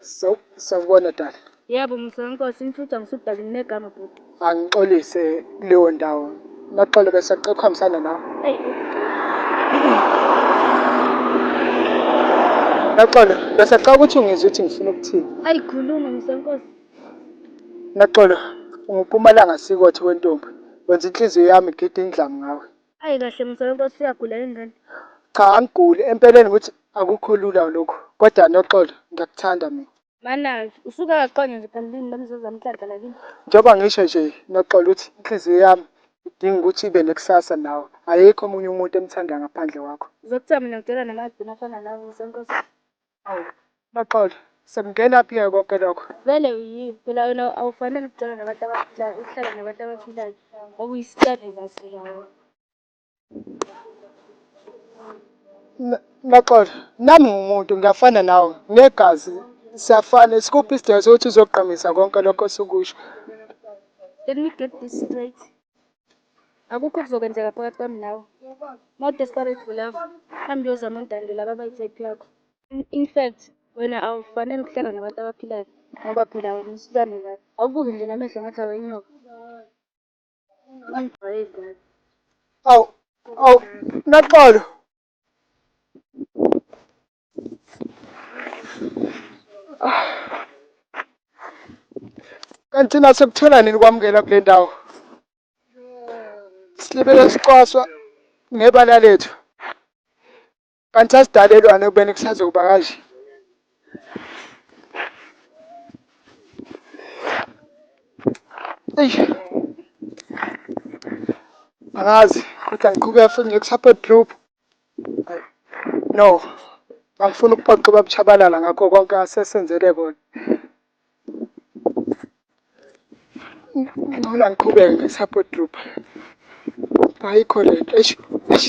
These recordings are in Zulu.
So, sawubona dali. Yebo mzala Nkosi, imfuca ngisudali nginegama bhuti. Angixolise kuleyo ndawo. Noxolo bese cela ukuhambisana nawe. Eyi, Noxolo, bese cela ukuthi ungizwe ukuthi ngifuna ukuthini. ayi khuluma mzala Nkosi. Noxolo, unguPhumalanga Sikothe wentombi. Wenza inhliziyo yami igide indlamu ngawe. Ayi kahle mzala nkosi uyagula yini ngane? Cha angiguli empeleni ngithi akukho lula lokhu kodwa Noxolo ngiyakuthanda mina. Manaz, Usuke akaqonde nje phela lini lomzuzu amhlanhla nakini. Njengoba ngisho nje Noxolo ukuthi inhliziyo yami idinga ukuthi ibe nekusasa nawe ayikho omunye umuntu emthandayo ngaphandle kwakho. Uzokuthaba mina ngidela namahbini afana nawe mzankosi. Awu Noxolo sekungena phi ke konke lokho? Vele uyini phela wena awufanele ukujwayele nabantu abaphilayo ukuhlala nabantu abaphilayo ngoba uyisitshane kahle kahle. Noxolo nami ngumuntu ngiyafana nawe ngegazi siyafana isikuphi isidingo sokuthi uzogqamisa konke lokho osukusho. Let me get this straight. Akukho okuzokwenzeka phakathi kwami nawe. More desperate for love, hamba uyozama untande laba abayi-type yakho. In fact, wena awufanele ukuhlala nabantu abaphilayo ngoba phela wena usilwane kabi. Awubuke nje namehlo ngathi awenyoka. Ungangijwayeli kabi. Awu, awu, Noxolo! Kanti thina sekuthola nini kwamukela kule ndawo? Silibele sicwaswa ngebala lethu. Kanti asidalelwane ekubeni kusazokuba kanje. Eish. Angazi kodwa ngiqhubeka futhi nje ku-support group. Ay, No. Angifuni ukuphoxa ubaba Chabalala ngakho konke asesenzele kona. Ngcono angiqhubeke nge-support group. Ayikho lento. Eish. Eish.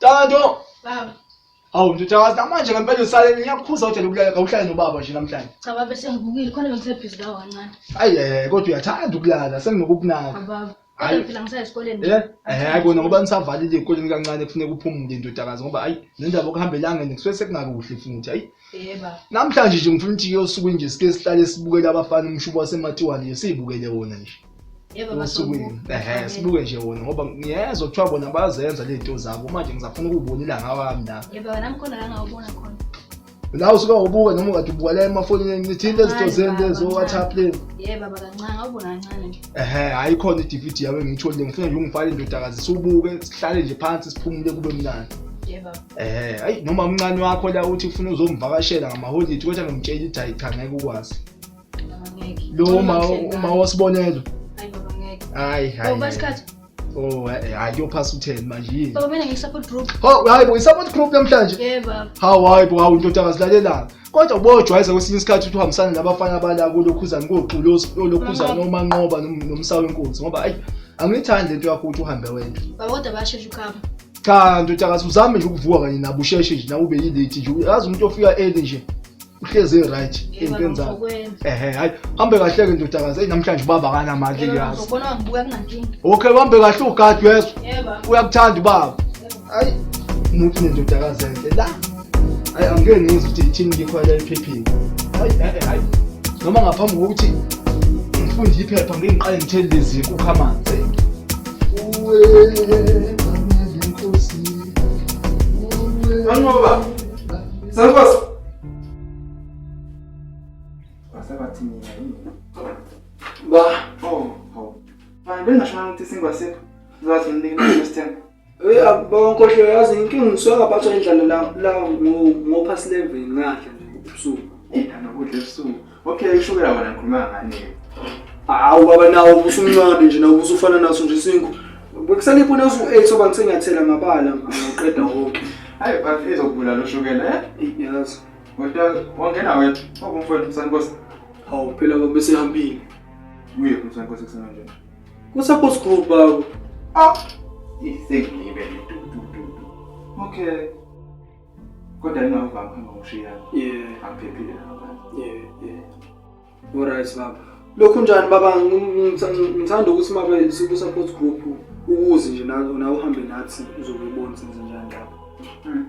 Tando. Baba. Awu ndodakazi namanje ngempela usale ngiyakukhuza ukuthi lokulala kawuhlale nobaba nje namhlanje. Cha baba sengivukile khona bengisebhizi kawo kancane. Ayi eh kodwa uyathanda ukulala senginokukunaka. Baba. Hayi phela ngisaya esikoleni. Eh eh kona ngoba nisavalile ikoleni kancane kufuneka uphumule ndodakazi ngoba ayi nendaba okuhambelanga nje kusuke sekungakuhle futhi ayi Yeba. Namhlanje nje ngifuna ukuthi yosuku nje sike sihlale sibukele abafana umshubo waseMatiwane nje sibukele wona nje. Yebo osukwini ehe sibuke nje wona ngoba ngiyezwa kuthiwa bona bazenza le nto zabo manje ngizafuna ukubona ilanga wami la yebo wena mkhona la ngawubona khona la usuke ubuka noma ungathi ubuka la emafonini ngithinte izinto zento ezo WhatsApp le yebo baba kancane ngawubona kancane nje ehe hayi khona i-DVD yawe ngiyitholile ngifuna nje ungifake indodakazi siwubuke sihlale nje phansi siphumule kube mnandi yebo Eh, ayi noma umncane wakho la uthi ufuna uzomvakashela ngamaholidi kodwa ngimtshela ukuthi hayi cha ngeke ukwazi. Ngeke. Lo uma uma wasibonelo. Hayi baba ngeke. Hayi hayi. Baba isikhathi. Oh, eh, eh, hayi kuyophasa u-10 manje yini? Baba mina ngi-support group. Hawu hayi bo, i-support group namhlanje. Yebo baba. Hawu hayi bo, hawu ndoda akazilalelanga. Kodwa ubojwayeza kwesinye isikhathi ukuthi uhambisane nabafana abala kulokhuzana kogxulozi olokhuzana nomanqoba nom- nomsawe inkunzi ngoba ayi angiyithandi lento yakho ukuthi uhambe wedwa. Baba kodwa bayashesha ukuhamba. cha ndoda ngathi uzame nje ukuvuka kanye nabo usheshe nje nawe ube yilate nje uyazi umuntu ofika early nje uhlezi right ey'ntweni zakho ehe hayi hambe kahle-ke ndodakazi eyi namhlanje ubaba akanamandla ngiyazi okay uhambe kahle ugadi wezwa uyakuthanda ubaba hayi muthi nendodakazi enhle la Hayi angeke ngizwe ukuthi yithini ngikho la ephepheni. Hayi hayi hayi. Noma ngaphambi kokuthi ngifunde iphepha ngeke ngiqale ngithele lezi nkukhu amanzi. Uwe kamele inkosi. Uwe. Angoba. Sankosi. Asabathi mina yini? Ba. Oh, oh. Ba, bengasho ukuthi singasekho. Zathi nginikele next time. Uyabona nkohlo yazi inkinga ngisuke ngaphathwa indlala la la ngophasi level ngadla nje ubusuku. Ngithanda ukudla ebusuku. Okay ushukela wena ngikhuluma ngani? Hawu baba nawo ubusumncane nje nawo ubusufana naso nje isingu. Bekusale ipuna usu 8 soba ngisenyathela ngabala ngiqeda wonke. Hayi bathi ezokubula lo shukela eh? Yazi. Kodwa wangena wena obumfowethu msankosi. Hawu phela baba besehambile. Uye kumsankosi kusenanje. Kusaphose group baba. Ah, isengibe tu tu tu. Okay. Kodwa ngingavanga phanga ushiya. Yeah, angiphephile lapha. Yeah, yeah. Alright baba. Lokhu njani baba ngithanda ukuthi mabe siku support group ukuze nje nawe uhambe nathi uzokubona senze njani lapha. Hmm.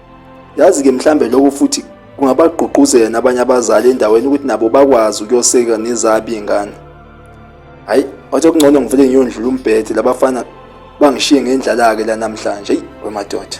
Yazi-ke mhlambe lokho futhi kungabagqugquzela nabanye abazali endaweni ukuthi nabo bakwazi ukuyoseka nezabo iy'ngane hhayi wathi okungcono ngivele ngiyondlula umbhede labafana bangishiye ngendlala-ke la namhlanje eyi wemadoda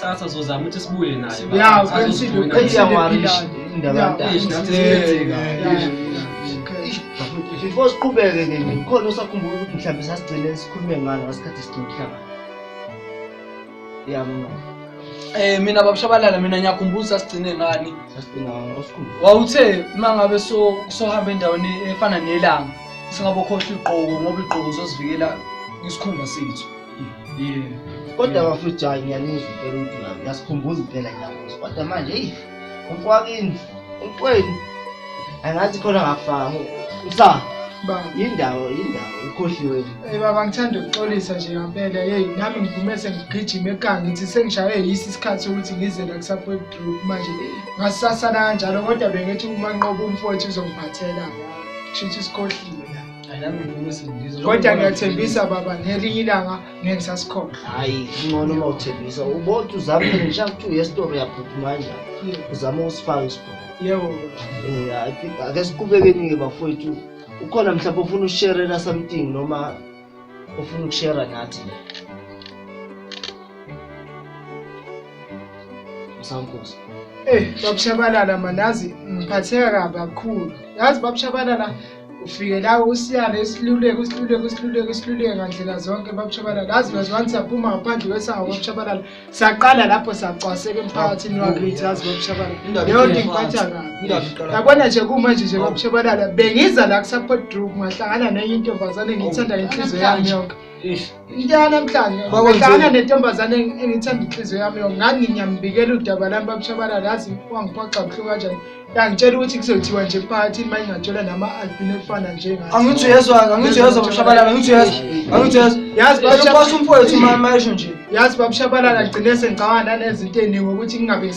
Sasa zozama ukuthi sibuye naye. Yeah, uqinisile uqinisile indaba yakhe. Ish nathi siyenzeka. Before siqhubeke ke nje khona osakhumbula ukuthi mhlawumbe sasigcine sikhulume ngalo ngasikhathi sigcina umhlaba. Yeah, mama. Eh mina babushabalala mina ngiyakhumbula sasigcine ngani. Sasigcina osikhumbula. Wawuthe mangabe so sohamba endaweni efana nelanga singabokhohla igqoko ngoba igqoko uzosivikela isikhumba sethu. kodwa bafethu hayi ngiyanizwa impela ukuthi ngiyasikhumbuza impela ngiyamuzi kodwa manje eyi umfakini umfweni angathi khona ngafanga msa yindawo yindawo ukhohliwe ey baba ngithanda ukuxolisa nje ngampela yeyi nami ngivume sengigijima ekanga ngithi sengishaywe yisi isikhathi sokuthi ngize la kusapoet group manje ngasisasana kanjalo kodwa bengithi umanqoba umfowethu uzongiphathela shitha isikhohliwe kodwa ngiyathembisa baba ngelinye ilanga ngeke ngisasikhohlwa hayi kungcono uma uthembisa ubothi uzamile ngisha kuthi uyesitoro uyaphuthuma kanjani uzama ukusifaka isibhono yebo um ake siqubekeni-ke bafowethu ukhona mhlawumbe ofuna ukusherela something noma ofuna ukushera nathi msankosi Eh, babushabalala manazi ngiphatheka kabi kakhulu. Yazi babushabalala ufike la usiyale isiluleko isiluleko isiluleko isiluleko ngandlela zonke babushabalala lazi bazwani saphuma ngaphandle kwesango babushabalala saqala lapho sacwaseka emphakathini wakithi yazi babushabalala leyo nto ngiphatha kabi yabona nje kumanje nje babushabalala bengiza la kusapodrup ngahlangana nenye intombazane ngiyithanda ngenhliziyo yami yonke into yanamhlanje ngihlangana nentombazane engithanda inhliziyo yami yo nganginyambikela udaba lami babushabalala yazi wangiphoxa buhlungu kanjani yangitshela ukuthi kuzothiwa nje emphakathini uma ingatshela nama-albino efana njengathi angithi uyezwa-ke angithi uyezwa babushabalala angithi uyezwa angithi uyezwa yazi babushabalala umfowethu uma mayesho nje yazi babushabalala gcine sengicabanga nanezinto eningi ukuthi ngingabe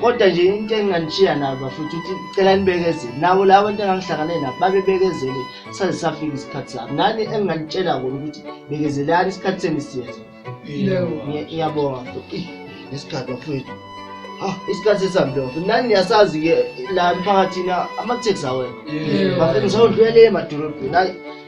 kodwa nje into enginganishiya nayo bafuthu ukuthi cela nibekezele nabo laba bantu engangihlangane nabo babebekezele saze safika isikhathi sabo nani enginganitshela kona ukuthi bekezelani isikhathi senu siyenza ngiyabonga isikhathi bafowethu Ah, isikhathi sesihambile bafethu nani niyasazi-ke la emphakathini amatheksi awekho bafethu ngisawudlulele emadolobheni hayi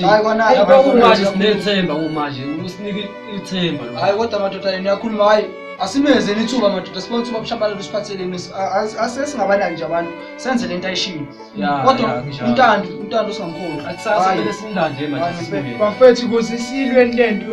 Hayi kona Hey, abantu kwakumanje bayakhuluma. sinethemba kumanje usinike ithemba lo. Hayi kodwa madoda yena uyakhuluma hayi asimenzeni ithuba madoda sibe uthuba bushabalala usiphatheleni As- as- as- esingabanaki nje abantu senze le nto ayishilo Ya, kodwa ya, kunjalo. umntandi umntandi usingamkhulu Akusasa kumele simlande manje Hayi, sibuye. bafethu kuze silwe lento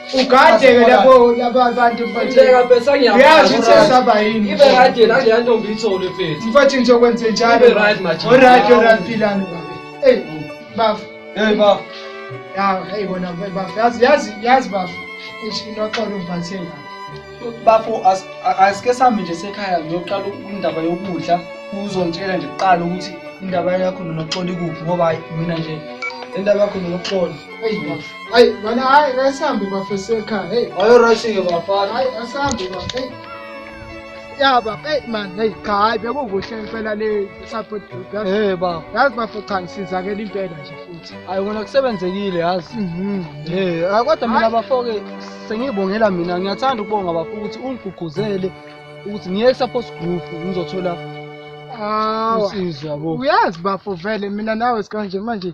ugade ke lapho laba abantu Ngibeka besa ngiyazi ngiyazi ukuthi esaba yini Ibe right yena nje yanto ngiyithole mfethu. mfethu nje kwenze njalo Ibe right manje. alright alright philani baba hey bafu Hey bafo. ya hey bona bafu yazi yazi yazi bafu ish inoxolo umbathe la Bafo as- a- asike sami nje sekhaya ngiyoqala indaba yokudla uzongitshela nje kuqala ukuthi indaba yakho nonoxola ikuphi ngoba hhayi mina nje indaba yakho nonoxola Hey, hey, mana hai asambe bafeseka. Hey, ayo rashike bafana. Hai asambe ba. Hey. Ya ba, hey man, hey cha hayi bekukuhle impela le support group. Hey ba. Yazi bafo cha ngisizakela impela nje futhi. Hayi ngona kusebenzekile yazi. Mhm. Hey, ah, kodwa mina bafoke sengibongela mina ngiyathanda ukubonga bafo ukuthi ungiguguzele ukuthi ngiye support group ngizothola usizo yabo. Uyazi bafo vele mina nawe sikanje manje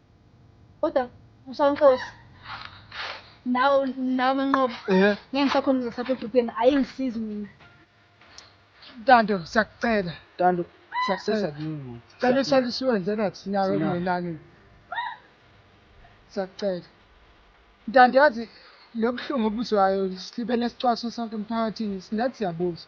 Kodwa Mshankosi nawe nawe manqobo eh. ngeke ngisakhona ngisapha ebhubheni ayingisizi mina Tando siyakucela Tando siyakucela kimi cela isali siwenze nathi nawe kungenani siyakucela Tando yazi lobuhlungu obuzwayo silibele sicwaswa sonke emphakathini singathi siyabuza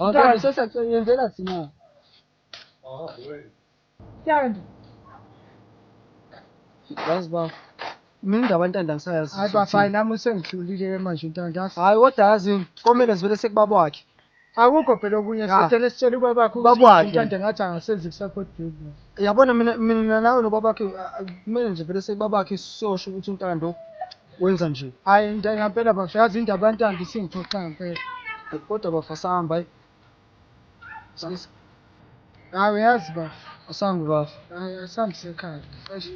Ngicela sesa yenzela sina. Ah, wewe. Siyanda. Yazi ba. Mina indaba ntanda ngisayazi. Hayi bafana nami usengihlulile manje ntanda. Hayi kodwa yazi komele sivele sekubaba wakhe. Akukho phela okunye sitshele sitshele ubaba wakho ubaba wakhe ntanda ngathi angasenzi kusapho dubu. Yabona mina mina nawe nobaba wakhe kumele nje vele sekubaba wakhe sosho ukuthi untando Wenza nje. Hayi into ngampela bafo yazi indaba yantando isingiphoxa ngampela. Kodwa bafo asahamba hayi. Sisi. Hayi uyazi bafo. Asambe bafo. Hayi asambe sekhaya. Eish.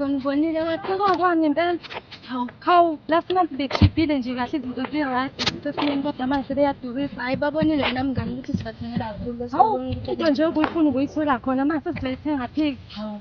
Ngibonile wathekwa kwami impela. Hawu, hawu, last month bekhiphile nje kahle izinto zi-right. Sesimeni kodwa manje sebeyadukisa. Hayi babonile wena mngani ukuthi sibathengela kakhulu. Hawu, into nje obuyifuna ubuyithola khona manje sesizayithenga phiki. Hawu.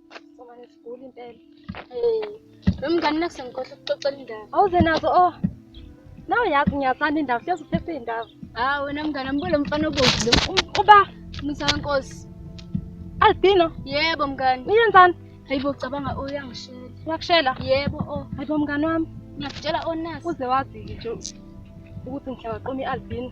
Somane sigula impela. Eh, nomngani nakusengikhohle ukuxoxela indaba. Awuze nazo oh. Nawe yazi ngiyathanda indaba, siyazi uphephe indaba. Hawu ah, wena mngani ambulo mfana obovu lo. Uba Musa wenkosi. Albino? Yebo mngani. Uyenzani? Hayibo cabanga uyangishela. Oh, Uyakushela? Yebo oh. Hayibo mngani wami. Ngiyakutshela onasi. Oh, Uze wazi nje ukuthi ngihlawaqoma i-albino.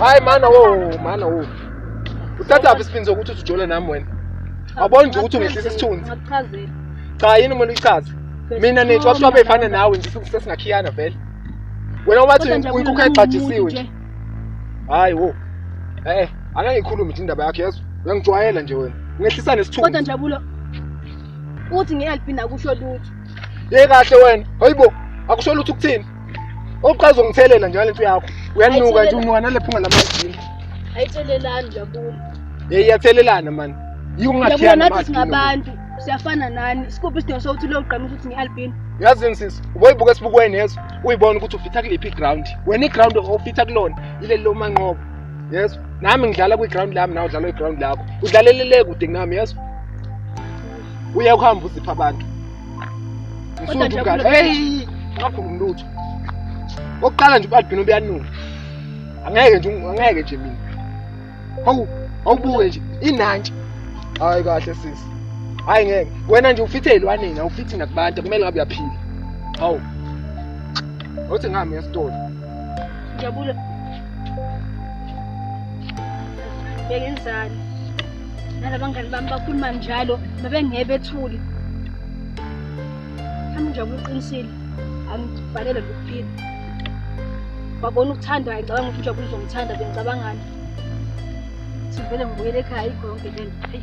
hayi mana wo mana wo uthathaphi isiphinzi sokuthi usujole nami wena wabona nje ukuthi ungehlisa isithunzi cha yini umuntu uyichaze mina nethi wabuswa beyifana nawe nje sesingakhiyana vele wena wathi uyinkukhu exajisiwe nje hayi wo e-e angeke ngikhulume nje indaba yakho yezwa uyangijwayela nje wena ungehlisa nesithunzi kodwa njabulo uthi ngihelp nakusho lutho ye kahle wena hayibo akusho lutho ukuthini oqala uzongithelela njalo lento yakho uyanuka nje umuka nalephunga lamajini ayithelelani jabula ye iyathelelana mani yikungathiyana nathi singabantu siyafana nani sikuphi isidingo sokuthi logqamisa ukuthi ngi-albino yazini sisi uboyibuka esibukweni yezo uyibona ukuthi ufitha kuliphi iground wena iground ofitha kulona ileli lomanqobo yezo nami ngidlala kwi-ground lami nawe udlala kwi-ground lakho udlalelele kude kunami yazi uya kuhamba uzipha abantu msuthu mngani eyi ngakhulumi lutho okokuqala nje ubalibhini ubuyanuka angeke nje angeke nje mina hawu awubuke nje inantshi hayi kahle sisi hayi ngeke wena nje ufithe ey'lwaneni awufithi nakubantu kumele ngabe uyaphila hawu othi ngami esitolo Jabula. Bengenzani? Nalabangani bami bakhuluma njalo, babengeke bethule. Hamba Jabula uqinisile. Angibhalele lokuphila. Wabona ukuthandwa, ngicabanga ukuthi uJabula uzongithanda, bengicabangani? Sivele ngibuyele ekhaya ikho yonke le nto. Eyi.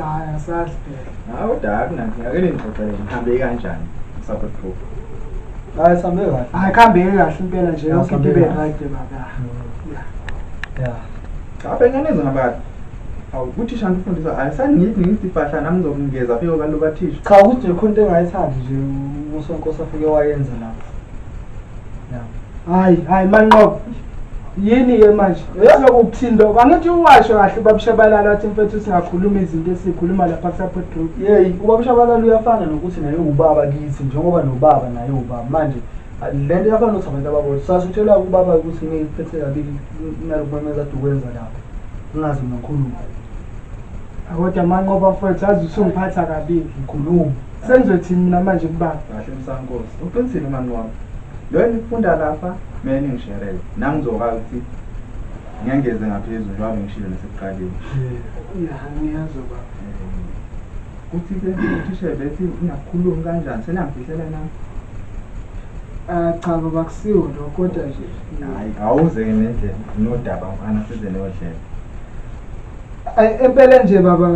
Hayi asazi phela. Hayi kodwa akunanto ngake ningixoxele ngihambe kanjani support group. Hayi sambe kahle. Hayi khambe kahle impela nje yonke into ibe right baba. Yeah. Yeah. Cha phela ngenza ngabathi. Awu kuthi shanti ufundisa hayi sangithi ngithi fahla nami ngizokungeza phiko kalo bathisha. Cha ukuthi le khonto engayithandi nje uSonkosi afike wayenza lapho. Yeah. Hayi hayi manqobo. yini ke manje sokukuthinda oku angithi uwasho kahle ubabushabalala wathi mfethu singakhuluma izinto esikhuluma lapha kusupport group yeyi ubabushabalala uyafana nokuthi naye ubaba kithi njengoba nobaba naye ubaba manje le nto yafana nokuthi abantu ababodwa sasuthelwa kubaba ukuthi ngiphethe kabi nalokumemeza ade ukwenza lapho ngingazi ngikhuluma kodwa manqoba mfethu azi usungiphatha kabi ngikhuluma Sengizothini mina manje kubaba? Kahle msankosi. Uqinisile mani wami. Lo engifunda lapha mina ningisherele. Nami ngizokwazi ukuthi ngengeze ngaphezulu njengoba ngishilo nasekuqaleni. Ya ngiyazi baba. Kuthi ke uthisha bethi ngiyakhuluma kanjani senangifihlela nami. Ah cha baba kusiwo lokho kodwa nje. Hayi awuze ke nendlela nodaba mfana size nodlela. Ay empela nje baba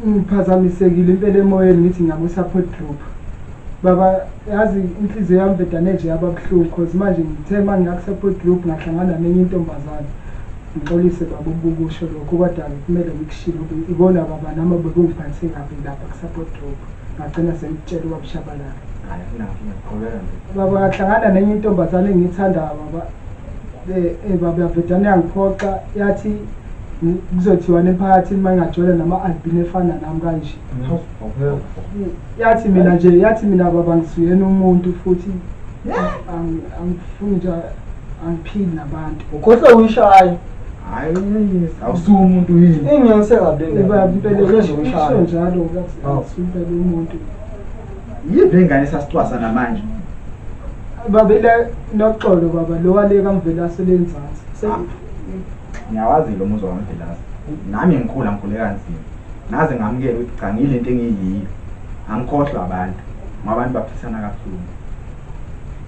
ngiphazamisekile impela emoyeni ngithi ngiyabo support group baba yazi inhliziyo yami bhedane nje yaba buhlungu cause manje ngithe uma ngiya ku-support group ngahlangana nenye intombazane ngixolise baba ukukusho lokho kodwa kumele ngikushilo ikona baba nami bekungiphathe kabi lapha ku-support group ngagcina sengikutshela ubabushabalala baba ngahlangana nenye intombazane engiyithandayo baba Eh, eh baba yabhedane yangiphoxa yathi mm, kuzothiwa nemphakathini uma ingagcwele nama-albini efana nami kanje Mm, yathi mina nje yathi mina baba ngisuyena umuntu futhi ang- angifuni nje angiphili nabantu ukhohlwe uyishaya hayi awusuke umuntu yini ingiyonise kabi Eh, baba impela isho njalo kathi Awu. angisumpela umuntu yive ingane sasicwasa namanje babele noxolo baba lo wale kamvelase lenzansi ngiyawazi lo muzwa kamvelase nami ngikhula ngikhule kanzima ngaze ngamukela ukuthi cha ngile nto engiyiyo angikhohlwa abantu ngoba abantu baphisana kabuhlungu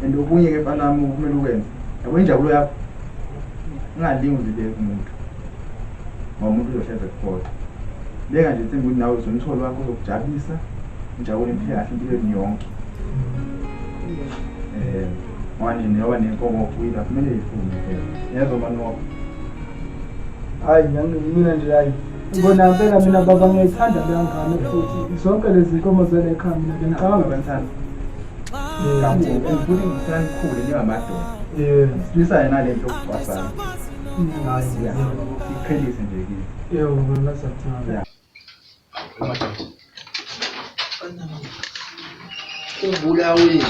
and okunye-ke mfanami kumele ukwenze yabo injabulo yakho ungalingi uzibeke umuntu ngoba umuntu uyohlezi ekukhohlwa beka nje themba ukuthi nawe uzomtholi wakho uzokujabulisa ujabule impilo yakhe impilo yenu yonke um ngoba nini yoba nenkomo okuyila kumele yifunde phela yezwa manoko hayi mina nje hayi ngibona phela mina baba ngiyayithanda leya ngane futhi zonke lezi nkomo zale ekhaya mina bengicabanga abanthanda kakhulu ngifuna ngithanda ikhule njengamadoda silisa yena le nto yokucwasana Kubulawe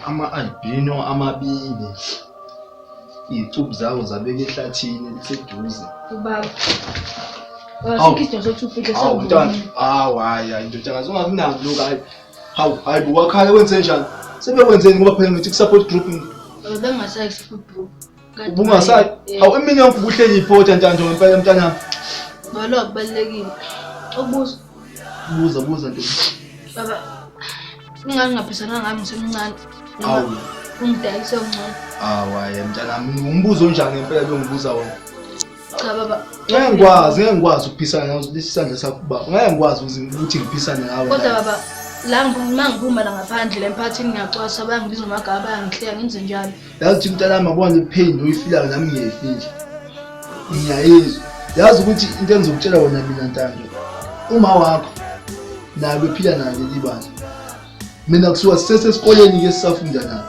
ama-albino amabili iy'cubu zawo zabeka ehlathini eliseduze ubaba Awu. Isidingo sokuthi ufihle Hawu mntwana, sawubona. hawu hayi hayi ndodakazi ungakunaki lokhu hayi. Hawu hayi bo wakhala wenze njani? Sebekwenzeni ngoba phela ngithi ku-support group Bengasayi ku-food group. ubungasayi hawu imini yonke ubuhleli iphotha ntanto ngempela mntanami ngalo akubalulekile ukubuza buza buza ntombi baba ingane ngaphisana ngami ngisemncane awu ungidayise ungcono awu hayi mntanami umbuzo onjani ngempela lo ngibuza wona cha baba ngeke ngikwazi ngeke ngikwazi ukuphisana nawe lesi sandla sakho baba ngeke ngikwazi ukuthi ngiphisane nawe kodwa baba la ngima ngiphuma la ngaphandle emphakathini ngiyacwasa bayangibiza amagama bayangihleya ngenze njalo yazi mntanami abona ipain oyifilayo nami ngiyayifila ngiyayizwa yazi ukuthi into engizokutshela wona mina ntando uma wakho naye bephila nayo leli bandla mina kusuka sisesesikoleni-ke sisafunda nayo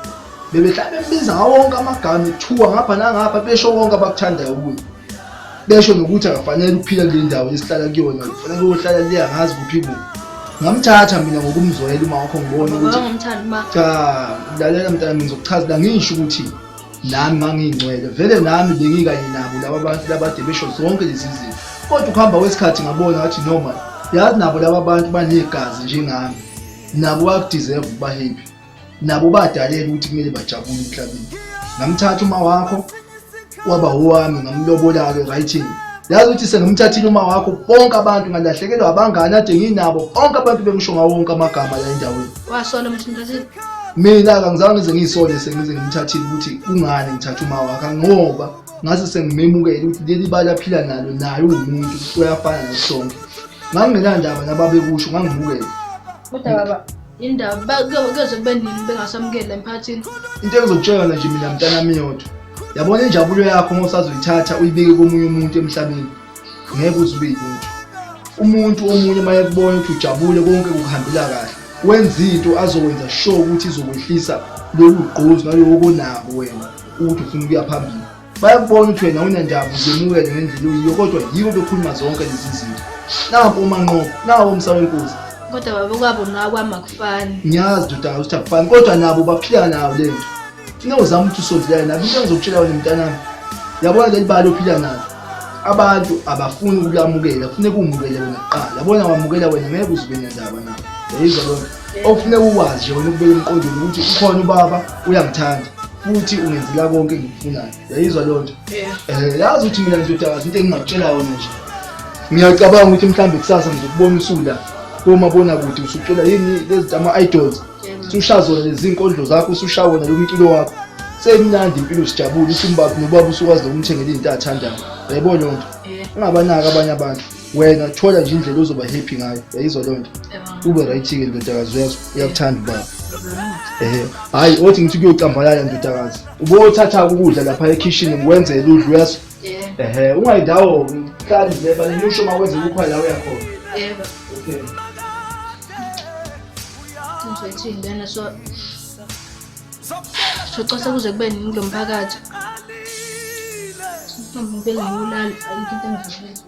bebehlala bembiza ngawo wonke amagama kuthiwa ngapha nangapha besho konke abakuthandayo kuye besho nokuthi akafanele ukuphila kule ndawo esihlala kuyona kufanele uyohlala le angazi kuphi kubi ngamthatha mina ngokumzwela uma wakho ngibona ukuthi cha lalela mntana mina ngizokuchazela ngisho ukuthi nami ngangiyingcwele vele nami bengikanye nabo laba bantu labade besho zonke lezi zinto kodwa ukuhamba kwesikhathi ngabona ngathi noma yazi nabo laba bantu banegazi njengami nabo bayakudeserve ukuba happy nabo badalelwe ukuthi kumele bajabule emhlabeni ngamthatha uma wakho waba owami ngamlobolalo writing yazi ukuthi sengamthathile uma wakho bonke abantu ngalahlekelwa abangani ade nginabo bonke abantu bengisho ngawo wonke amagama la endaweni wasola ukuthi mthathile mina kangizange ngize ngiyisole sengize ngimthathile ukuthi kungani ngithatha uma wakho ngoba ngase sengimemukele ukuthi leli bala phila nalo naye uwumuntu uyafana nasonke ngangingenandaba nababekusho ngangibukele Kodwa baba indaba bakuyoze kube nini bengasamukela emphakathini. Into engizokutshela nje mina mntanami yodwa. Yabona injabulo yakho uma usazoyithatha uyibeke komunye umuntu emhlabeni. Ngeke uze ube yinto. Umuntu omunye uma ekubona ukuthi ujabule konke kuhambela kahle. Wenza into azokwenza sure ukuthi izokwehlisa lolu gqozi nalowo konako wena ukuthi ufuna ukuya phambili. bayakubona ukuthi wena unendawo zemukele ngendlela uyiyo kodwa yibo bekhuluma zonke lezi zinto naku umanqobo nawo umsa wenkosi kodwa baba kwabo nakwami akufani ngiyazi doda ukuthi akufani kodwa nabo baphila nawo le nto funa uzama ukuthi usondelane nabo into engizokutshela wena mntanami yabona leli bali ophila nalo abantu abafuni ukulamukela kufuneka umukele wena kuqala yabona wamukela wena ngeke uzube nendaba nabo yayizwa loo nto Okufuneka ukwazi nje wena ukubeka emqondweni ukuthi ukhona ubaba uyangithanda futhi ungenzela konke engikufunayo. Yayizwa leyo nto? Eh, yazi ukuthi mina ngizodakaza into engingakutshela yona nje. Ngiyacabanga ukuthi mhlawumbe kusasa ngizokubona usula komabona kude usucula yini lezi ama idols. Usushaza zona lezi zinkondlo zakho, usushaya wona lo mculo wakho. Semnandi impilo sijabule, usumbaphi nobaba usukwazi nokumthengela izinto athandayo. Yayibona leyo nto? Ungabanaki abanye abantu. wena thola nje indlela ozoba happy ngayo yayizwa loo nto ube right-ke ndodakazi uyazi uyakuthanda ubaba ehe hhayi othi ngithi kuyocambalala ndodakazi ubothatha ukudla lapha ekhishini ngikwenzele udla uyazi ehe ungayindawo hlali nje banelusho uma kwenze ukukho la uyakhona okay ngizwethini lena so socosa kuze kube nini kulo mphakathi ngibele ngiwulala ayikho into engizwethini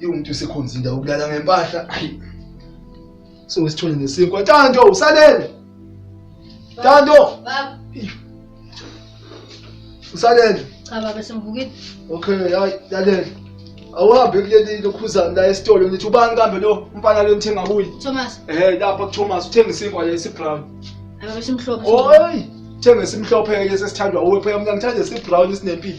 Iwumuntu usekhonza indawo ukulala ngempahla. Ayi. So sithole nesinkwa. Tando usalele. Tando. Baba. Usalele. Cha baba simvukile. Okay, hayi lalela. Awuhambe kuleli lokhuzana la esitolo ngithi ubani kambe lo umfana lo ngithenga kuye. Thomas. Eh lapha ku Thomas uthenga isinkwa le esibrown. Ababe simhlophe. Oyi. Thenga esimhlophe ke sesithandwa uwe phela mina ngithanda esibrown esinempilo.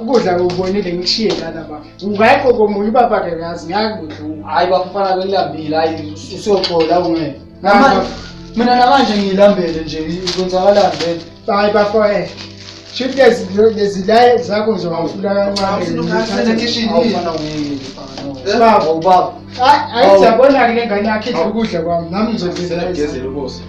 ukudla kubonile ngishiye lana ba ungayikho komunye ubaba ke kazi ngiyakudlula hayi bafana belambile hayi usoxola ungeke mina namanje ngiyilambele nje kwenzakalani vele hayi bafowethu eh. Shoot guys, lezi la zakho nje wafuna kancane. Ngifuna kitchen hii. Baba, baba. Hayi, ayizabona ke lengane yakhe idla ukudla kwami. Nami ngizogezela. Ngizogezela ubuso.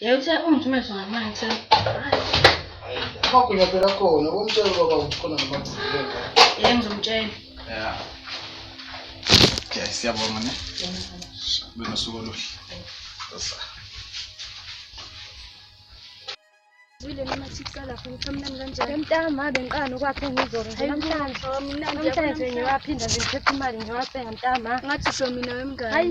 Yethe ungithumele zona manje kuseni. Amagunya phela khona, ubomtshela ubaba ukuthi khona ngamagcikile ngane. Yeke ngizomtshela. Ya. Okay, siyabonga ne. Kube nosuku oluhle. Sasa. Zwile noma siqala lapho ngichamlani kanjani? Emtama bengiqala nokwakhe ngizoro nje namhlanje. Namhlanje ngiwaphinda nje ngiphethe imali ngiwasenga mtama. Ngathi usho mina wemngane. Hayi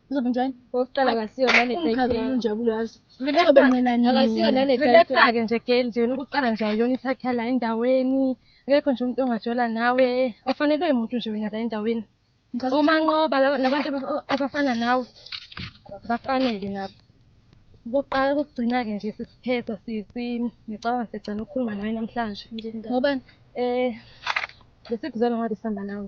Uzobunjani? Okokuqala akasiyo nane Umkhazi title. unjabule yazi. Relax, Azobe mncinane mina. akasiyo nane Relax title. ake nje girl nje wena ukuqala nje awuyona isakha la endaweni. Akekho nje umuntu ongajola nawe. Awufanelwe umuntu nje wena la endaweni. Ngicela Uma nqoba laba- labantu aba- abafana nawe bafanele nabo. Ukuqala ukugcina-ke nje sesiphetha sisi. Ngicabanga sesicela ukukhuluma nawe namhlanje. Ngobani? Eh, besikuzelwa ngabe sihamba nawe.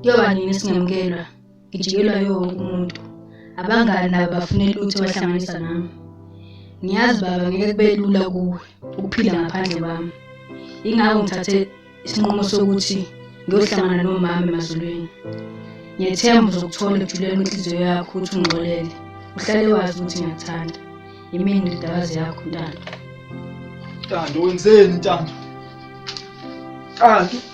Kuyoba nini singemukelwa? Ngijikelwa yiwo wonke umuntu. Abangani nabo bafune lutho bahlanganisa nami. Ngiyazi baba ngeke kube lula kuwe ukuphila ngaphandle kwami. Ingakho ngithathe isinqumo sokuthi ngiyohlangana nomama emazulwini. Ngiyethemba uzokuthola ekujuleni kwenhliziyo yakho ukuthi ungixolele. Uhlale wazi ukuthi ngiyakuthanda. Yimini indodakazi yakho ntando. Ntando wenzeni ntando? Ntando.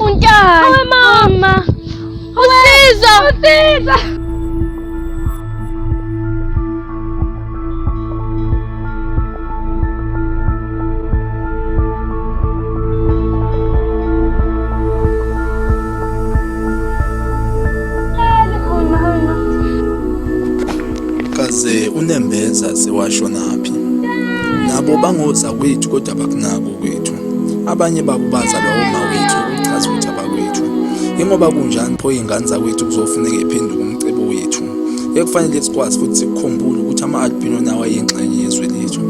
Unjani? Hayi mama. Usizo. Usizo. Kaze unembeza sewashonaphi? Nabo bangoza kwethu kodwa bakunako kwethu. Abanye babo bazalwa omawethu okuchaza ukuthi abakwethu. Ingoba kunjani pho iy'ngane zakwethu kuzofuneka iphenduke umcebo wethu. Ekufanele sikwazi futhi sikukhumbule ukuthi ama-albino nawo ayingxenye yezwe lethu.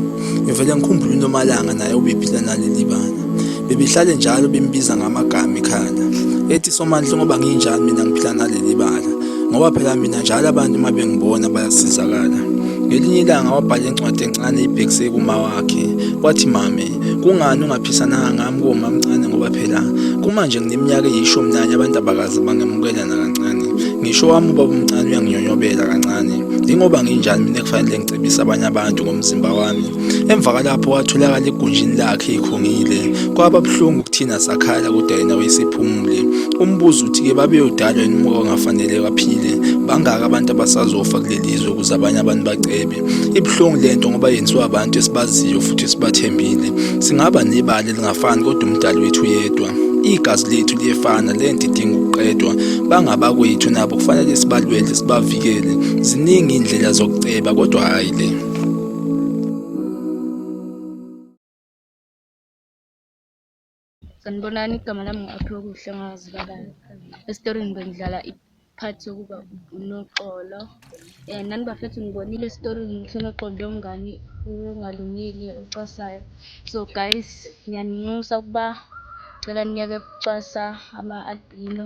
Ngivele ngikhumbule uNomalanga naye ubephila naleli bala. Bebehlale njalo bembiza ngamagama ekhanda. Ethi Somandla ngoba nginjani mina ngiphila naleli bala. Ngoba phela mina njalo abantu uma bengibona bayasizakala. Ngelinye ilanga wabhala incwadi encane ibhekise kuma wakhe. Wathi mame kungani ungaphisananga ngami koma mncane ngoba phela kumanje ngineminyaka eyishumi nanye abantu abakazi bangemukela nakancane ngisho wami ubaba umncane uyanginyonyobela kancane yingoba nginjani mina kufanele ngicebise abanye abantu ngomzimba wami emva kalapho watholakala egunjini lakhe ikhungile kwaba buhlungu kuthina sakhala kodwa yena wayesiphumule umbuzo uthi-ke babeyodalwa yini umuka ongafanele baphile bangaka abantu abasazofa kuleli zwe ukuze abanye abantu bacebe Ibuhlungu lento ngoba yenziwa abantu esibaziyo futhi esibathembile. Singaba nebali elingafani kodwa umdali wethu yedwa. Igazi lethu liyefana lento idinga ukuqedwa. Bangabakwethu nabo kufanele sibalwele sibavikele. Ziningi indlela zokuceba kodwa hayi le. Sanibonani, igama lami ngu-Aphiwe Kuhle ngazi kabani. Esitorini bengidlala i-part yokuba unoxolo. Um nani bafethu ngibonile esitorini ngihle noxolo lomngani ongalungile ocasayo. So guys, ngiyaninxusa ukuba cela niyeke ukucwasa ama-albino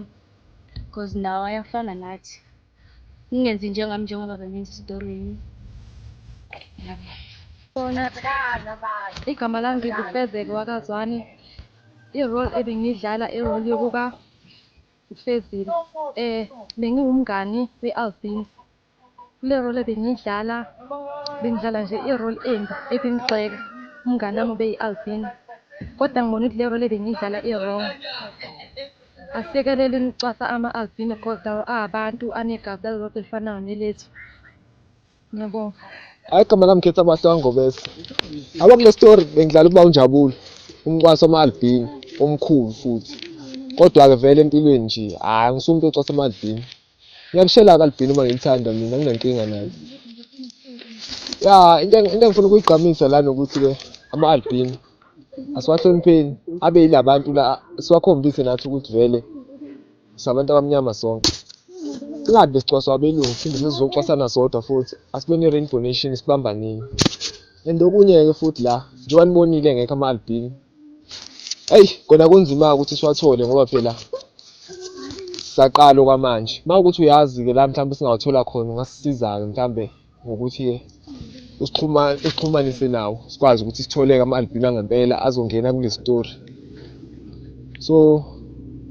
because nawo ayafana nathi. Ningenzi njengami njengoba benenza esitoreni. Igama lami nginguFezeke wakaZwane. I-role ebengiyidlala i-role yokuka uFezile. Bengiwumngani we-Alvin. Kule role ebengiyidlala, bengidlala nje i-role embi ebingigxeka. Umngani wami ubeyi-Alvin. Kodwa ngibona ukuthi le role ebengiyidlala i-wrong. Asiyekeleni ukucwasa ama-albino coz lawo ahabantu anegazi elilodwa elifanayo nelethu. Ngiyabonga. Hayi igama lami khetha bahle wangobese. Aba kule story bengidlala uba unjabulo. Umcwasa ama-albino omkhulu futhi. Kodwa-ke vele empilweni nje hayi angisumntu ocwasa ama-albino. Ngiyakushela ke albino uma ngilithanda mina nginankinga nayo. Ya into eng- into engifuna ukuyigqamisa lana ukuthi ke ama albino asiwahlonipheni abe yilabantu la siwakhombise nathi ukuthi vele sabantu abamnyama sonke. Singabe sicwaswa abelungu phinde sizocwasana sodwa futhi asibe ne rainbow nation sibambaneni. And okunye ke futhi la njengoba nibonile ngekho ama albino Eyi kona kunzima-ke ukuthi siwathole ngoba phela saqala okwamanje. Uma ukuthi uyazi-ke la mhlawumbe singawathola khona ungasisiza-ke mhlawumbe ngokuthi-ke usixhumanise nawo sikwazi ukuthi sitholeke ama-albino angempela azongena kule story. So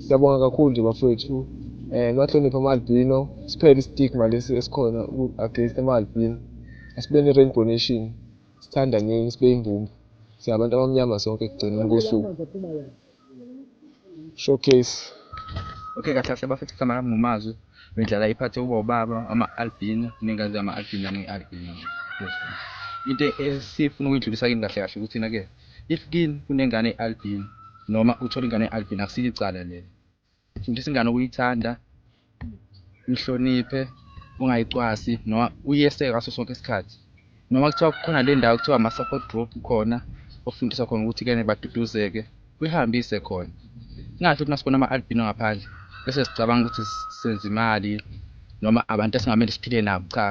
siyabonga kakhulu nje bafowethu um eh, niwahloniphe ama-albino siphele i-stigma lesi esikhona against ama-albino asibeni i-rainbow nation. Sithandaneni sibe imbumba. Siyabantu abamnyama sonke ekugcineni kosuku. Showcase. Okay kahle kahle bafethu kuhlama nami ngomazwi bedlala iphathi uba ubaba ama-albino ningazi ama-albino ani-albino into esifuna ukuyidlulisa kini kahle kahle ukuthi na-ke if kini kunengane i-albino noma uthola ingane i-albino akusile icala leli Fundisa ingane ukuyithanda, uyihloniphe, ungayicwasi noma uyeseke ngaso sonke isikhathi. Noma kuthiwa kukhona le ndawo kuthiwa ama-support group khona ofundisa khona ukuthi kene baduduzeke, uyihambise khona. Singahle ukuthi masibona ama-albino ngaphandle bese sicabanga ukuthi senza imali noma abantu esingamele siphile nabo, cha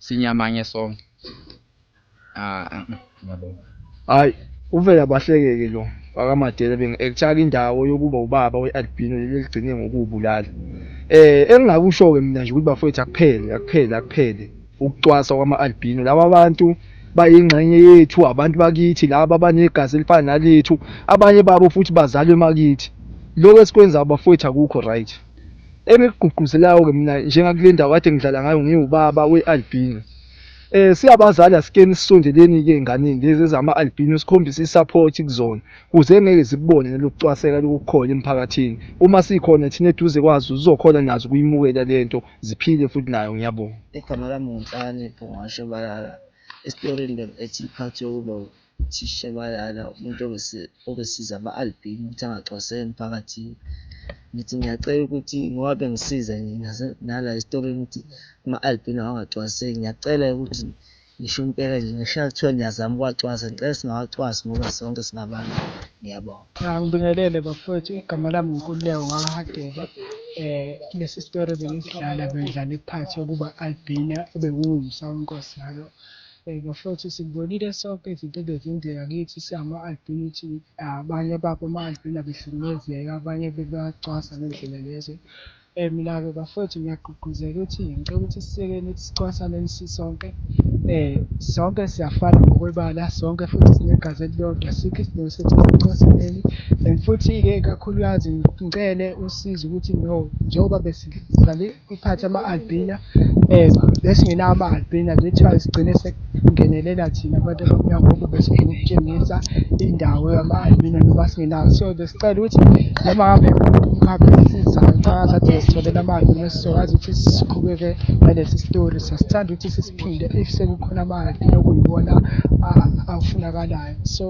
sinyamanye sonke. Hayi uvela bahleke-ke lo wakaMadela benge actor-ke indawo yokuba ubaba we-albino leli eligcine ngokuwubulala. Eh engingakusho-ke mina nje ukuthi bafwethu akuphele, akuphele, akuphele ukucwasa kwama-albino. Laba abantu bayingxenye yethu, abantu bakithi laba abanegazi elifana nalethu, abanye babo futhi bazalwe emakithi. Lokhu esikwenzayo bafwethu akukho right. Engikugqugquzelayo-ke mina njengakulendawo kade ngidlala ngayo ngiwubaba we-albino. Eh siyabazali asike nisondeleni ke enganeni lezi ezama albino sikhombise isupport kuzona kuze ngeke zikubone nelokucwaseka lokukhona emphakathini uma sikhona thina eduze kwazo zizokhona nazo kuyimukela lento ziphile futhi nayo ngiyabonga. Igama lami ngu Nhlakanipho Ngwashe Balala, esitorini bengiphethe iphathi yokuloba. Uthisha bayala umuntu obesiza ama-albino ukuthi angaxwaseki emphakathini. Ngithi ngiyacela ukuthi ngoba bengisiza nje nase nala esitokeni ukuthi ama-albino angaxwaseki. Ngiyacela ukuthi ngisho impela nje ngisho kuthiwa niyazama ukuwacwasa ngicela singawacwasi ngoba sonke singabantu. Ngiyabonga. Ngibingelele bafwethu igama lami nguNkululeko kaHadebe lesi story bengisidlala bengidlala iphathi yokuba albino obekungumsa wenkosi ngalo. Bheka futhi, Sikubonile sonke izinto ebezenzeka kithi singama-albino, abanye babo ama-albino abehlukumezeka, abanye bebacwasa ngendlela lezi emnabe. Bafwethu, ngiyagqugquzela ukuthi ngicela ukuthi sisekeni ukuthi sicwasaneni sisonke. Sonke siyafana ngokwebala, sonke futhi sinegazi elilodwa, asikho isidingo sokuthi sicwasaneni. And futhi-ke kakhulukazi ngicele usizo ukuthi no njengoba besidlale. Iphathe ama-albina um besingenawo ama-albina kuthiwa sigcine sekungenelela thina abantu abamnyama ngoba besifuna ukutshengisa indawo yama-albina noma singenawo so besicela ukuthi noma ngabe umkhaphi esizayo nxakade sitholela ama-albina sizokwazi ukuthi siqhubeke nalesi sitori sasithanda ukuthi sisiphinde if sekukhona ama-albina okuyiwona afunakalayo so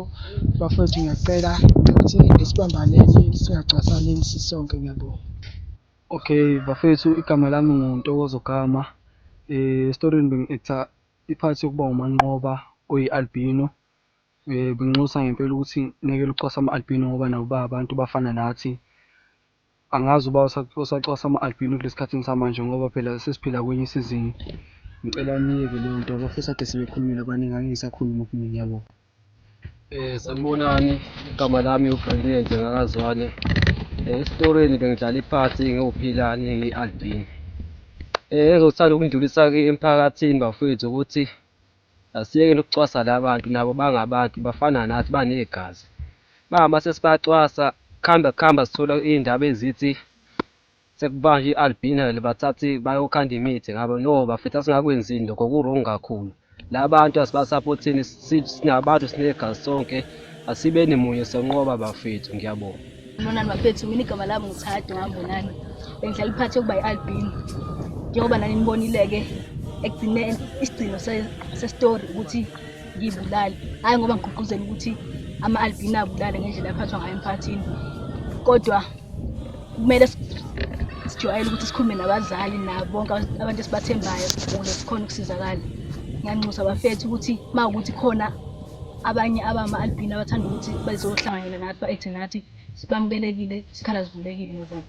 bafowethu ngiyacela ukuthi esibambaneni singacwasaneni sisonke ngiyabonga Okay bafethu igama lami nguNtokozo Gama. Eh story bengi-acta i-part yokuba uManqoba oyi-albino. Eh benginxusa ngempela ukuthi niyekele ukucwasa ama-albino ngoba nabo ba abantu bafana nathi. Angazi uba usacwasa ama-albino kulesi khathini samanje ngoba phela sesiphila kwenye isizini. Ngicela niyeke leyo nto bafethu ade sebekhulumile abaningi angeke ngisakhuluma okuningi yabo. Eh sanibonani igama lami uBrilliant ngakazwane. Eh, esitoreni bengidlala iphathi ngiwuphilani ngiyi-albino. Eh engizothanda ukundlulisa ke emphakathini bafowethu ukuthi asiyeke nokucwasa labantu nabo bangabantu bafana nathi banegazi. Mama sesibacwasa kuhamba kuhamba sithola iy'ndaba ezithi Sekubanje i albinal bathathe bayokhanda imithi ngabo no bafethu asingakwenzini lokho ku wrong kakhulu labantu asibasaphotheni sinabantu sinegazi sonke asibeni munye sonqoba bafethu ngiyabonga Monani bafethu mina igama lami nguThado ngambonani bengihlala iphathi yokuba yi-albino njengoba nani nibonile-ke ekugcine isigcino sesitori ukuthi ngiyibulale hhayi ngoba ngigqugquzela ukuthi ama-albino abulale ngendlela aphathwa ngayo emphakathini kodwa kumele sijwayele ukuthi sikhulume nabazali nabo bonke abantu esibathembayo ukuze sikhona ukusizakala ngiyanxusa bafethu ukuthi uma ukuthi khona abanye abama-albini abathanda ukuthi bazohlanganyela nathi ba-ekthi nathi sibamukelekile isikhala sivulekile nobona